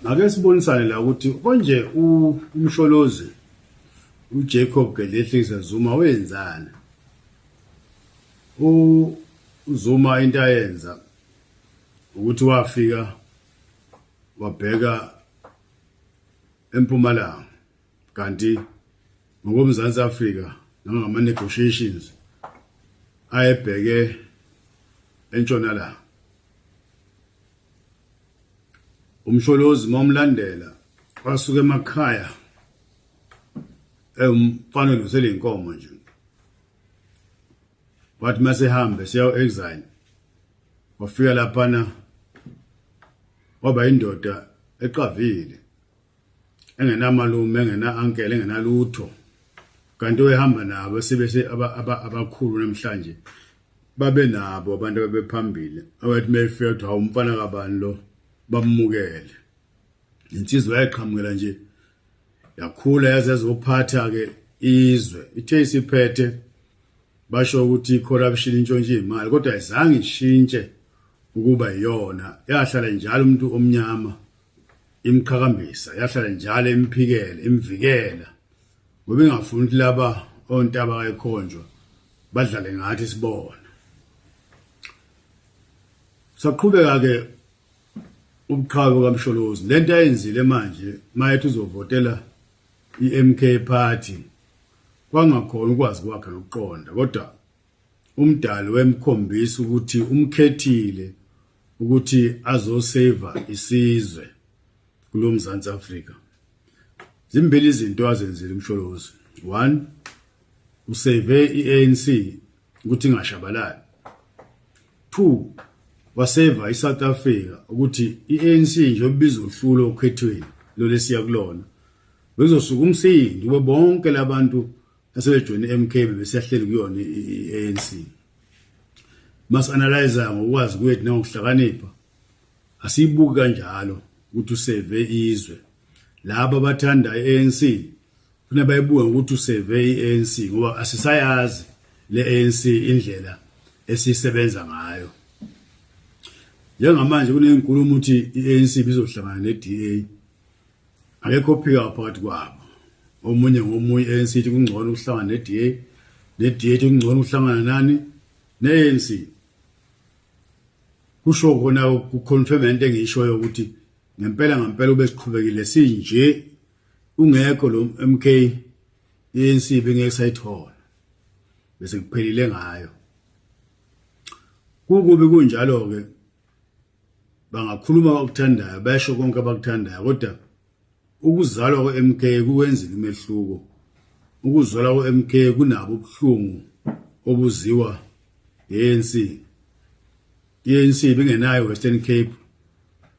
ake sibonisane la ukuthi konje umsholozi uJacob Gedlehlise Zuma wenzani uZuma into ayenza ukuthi wafika wabheka empumalanga kanti ngokomzansi Africa nangama negotiations ayebheke entshonalanga umsholozi momlandela wasuka emakhaya emfana lusele inkomo nje wathi masehambe siya exile wafika laphana waba indoda eqavile engenamalume engena-ankele engenalutho kanti oyehamba nabo sebese abakhulu namhlanje babe nabo abantu ababephambili abathi uma efika kuthiwa hawu umfana kabani lo bamukele insizwa yayiqhamukela nje yakhula yaze yazophatha-ke izwe ithe isiphethe basho ukuthi i-corruption intshontshe iy'mali kodwa ayizange ishintshe ukuba yiyona yahlala njalo umuntu omnyama imqhakambisa yahlala njalo imphikela imvikela ngoba ingafuni ukuthi laba ontaba kayikhonjwa badlale ngathi sibona saqhubeka ke ubuqhawe kamsholozi lento ayenzile manje mayethi uzovotela iMK party kwangakhona ukwazi kwakhe nokuqonda kodwa umdali wemkhombisa ukuthi umkhethile ukuthi azosave isizwe kulomzansi Africa zimbili izinto azenzile umsholozi one usave iANC ukuthi ingashabalali two waseva iSouth Africa ukuthi iANC nje obiza uhlulo okhethweni lolesiya kulona bezosuka umsindo kube bonke labantu asebejoyine i-mk bebesehleli kuyona i-anc masi-analyza ngokwazi kwethu nangokuhlakanipha asiyibuki kanjalo ukuthi useve izwe laba abathanda i-anc funa bayibuke ngokuthi useve i-anc ngoba asisayazi le-anc indlela esisebenza ngayo njengamanje kunenkulumo ukuthi i-anc bizohlangana ne-da akekho ophika phakathi kwabo omunye ngomunye ANC ithi kungcono ukuhlangana neDA neDA ithi kungcono ukuhlangana nani neANC kusho khona ukuconfirm into engiyishoyo ukuthi ngempela ngempela ube siqhubekile sinje ungekho lo MK ANC bengeke sayithola bese kuphelile ngayo kukubi kunjalo ke bangakhuluma abakuthandayo besho konke abakuthandayo kodwa ukuzalwa kwe-MK kuwenzile umehluko ukuzalwa kwe-MK kunabo ubuhlungu obuziwa ANC ANC bengenayo Western Cape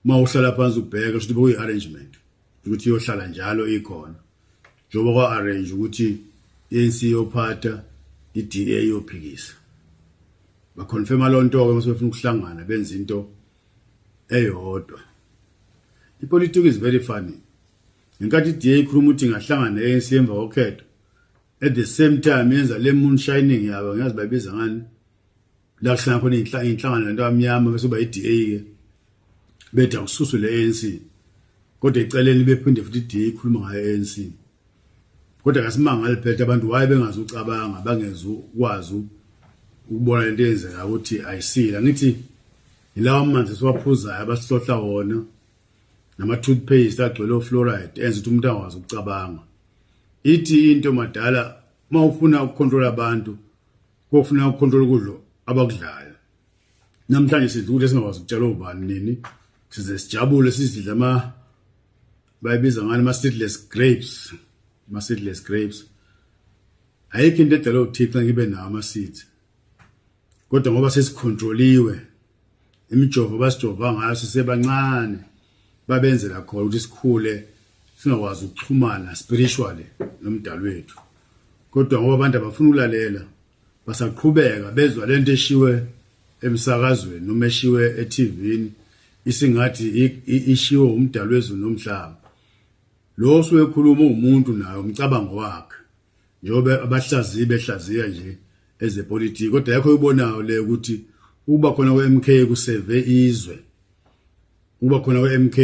mawuhlala phansi ubheke ukuthi bekuyi arrangement ukuthi iyohlala njalo ikhona njengoba kwa-arrange ukuthi i-anc iyophatha i-da iyophikisa bakhonfema loo nto-ke uma sebefuna ukuhlangana benza into eyodwa ipolitiki is very funny ngenkathi i-da ikhuluma ukuthi ingahlangana ne-anc emva kokhetho at the same time yenza le moon shining yabo ngiyazi bayibiza ngani la kuhlangana khona iy'nhlangano lento amnyama bese uba i-da ke bethi akususwe le anc kodwa eceleni bephinde futhi i-da ikhuluma ngayo anc kodwa kasimangali phethe abantu waye bengazi ucabanga bangezi ukwazi ukubona lento eyenzeka ukuthi ayisile angithi yilawa manzi esiwaphuzayo abasihlohla wona nama-toothpaste agcwele ofluoride enza ukuthi umuntu angakwazi ukucabanga ithi into madala uma ufuna ukukhontrola abantu Kofuna ukhontrola ukudlo abakudlayo. Namhlanje sidla ukudla singakwazi ukutshela ubani nini. Size sijabule sizidla ama bayibiza ngani ama seedless grapes. Ama seedless grapes. Ayikho into edala uThixo ngibe nawo ama seeds. Kodwa ngoba sesikhontroliwe imijovo basijova ngayo sisebancane babenzela khona ukuthi sikhule singakwazi ukuxhumana spiritually nomdali wethu kodwa ngoba abantu abafuna ukulalela basaqhubeka bezwa lento eshiwe emsakazweni noma eshiwe e-TV isingathi ishiwo umdali wezulu nomhlaba lo osuke ekhuluma umuntu naye umcabango wakhe njengoba abahlaziyi behlaziya nje ezepolitiki kodwa yakho uyibonayo le ukuthi ukuba khona kwe-MK kuseve izwe ukuba khona kwe-MK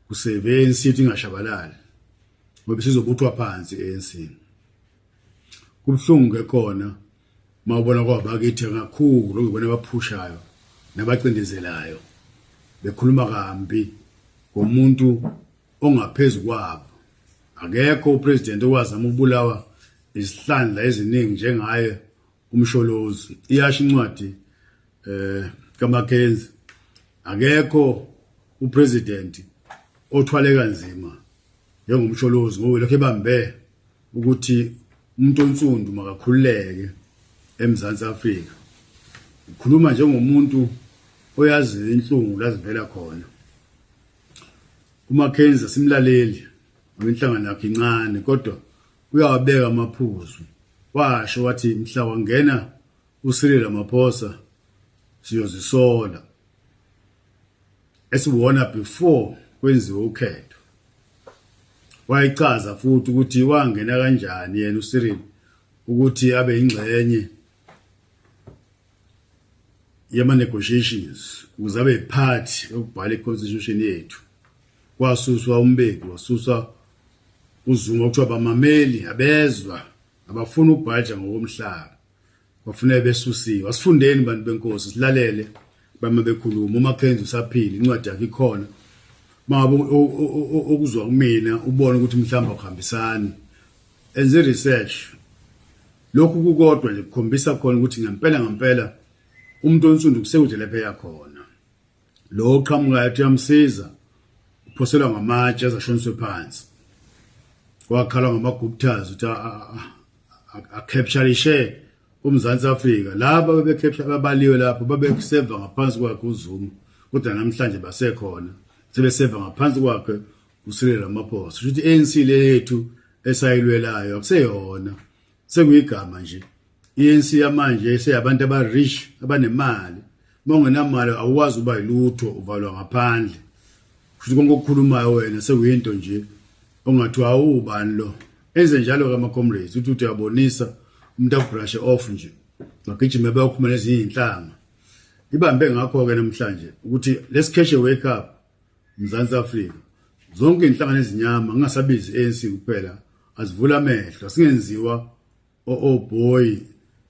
kuseve ANC ingashabalali ngoba sizobuthwa phansi ANC kubuhlungu ke khona mawubona kwabakithi kakhulu ngibona abaphushayo nabacindezelayo bekhuluma kambi ngomuntu ongaphezu kwabo akekho upresident owazama ukubulawa izihlandla eziningi njengaye umsholozi iyasho incwadi eh kaMakenzi akekho upresident othwale kanzima njengomsholozi ngoba lokho ebambe ukuthi umuntu onsundu makakhululeke eMzansi Afrika ukhuluma njengomuntu oyazi inhlungu lazivela khona uMackenzie simlaleli ngenhlangano yakhe incane kodwa uyawabeka amaphuzu washo wathi mhla wangena uSirila Maphosa siyozisola esiwona before kwenziwe ukhetho wayichaza futhi ukuthi wangena kanjani yena uSirila ukuthi abe ingxenye yama-negotiations ukuze abe yiphathi yokubhala i-constitution yethu kwasuswa umbeki wasuswa uzuma okuthiwa bamameli abezwa abafuna ubhaja ngokomhlaba kwafuneka besusiwe asifundeni bantu benkosi silalele bama bekhuluma uma kenza usaphila incwadi yakhe ikhona mabo okuzwa kumina ubona ukuthi mhlawumbe akuhambisani enze research Lokhu kukodwa nje kukhombisa khona ukuthi ngempela ngempela umuntu onsundu kusekude lapho eya khona. Lo oqhamukayo uthi uyamsiza uphoselwa ngamatshe azashoniswe phansi. Wakhala ngamaguptas uthi akhepsharishe uMzansi Afrika. Laba bebekhepsha babaliwe lapho babeseva ngaphansi kwakhe uZuma kodwa namhlanje basekhona sebeseva ngaphansi kwakhe uSiril Ramaphosa ukuthi ANC le yethu esayilwelayo akuseyona sekuyigama nje ANC yamanje eseyabantu aba rich abanemali mongenamali awukwazi uba yilutho uvalwa ngaphandle futhi konke okukhulumayo wena sekuyinto nje ongathi awubani lo enze njalo ka macomrades uthi uthi uyabonisa umuntu akubrashe off nje magijime bayokhuma nezinye inhlanga ibambe ngakho ke namhlanje ukuthi let's catch a wake up Mzansi Afrika zonke inhlangano ezinyama ngingasabizi ANC kuphela azivula amehlo singenziwa o oh, oh boy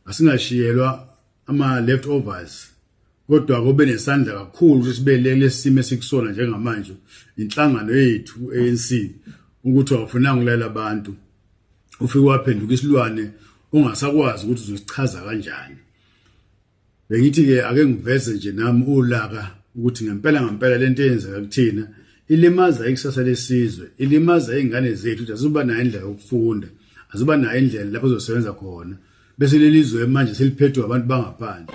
asingashiyelwa ama leftovers kodwa kobe nesandla kakhulu ukuthi sibeleke lesimo esikusona njengamanje inhlangano yethu ANC ukuthi awufunanga ulela abantu ufike waphenduka isilwane ungasakwazi ukuthi uzosichaza kanjani Bengithi-ke ake ngiveze nje nami ulaka ukuthi ngempela ngempela lento eyenzeka kuthina ilimaza ikusasa lesizwe ilimaza izingane zethu ukuthi azuba nayo indlela yokufunda azuba nayo indlela lapho zosebenza khona bese lelizwe manje seliphethwe abantu bangaphandle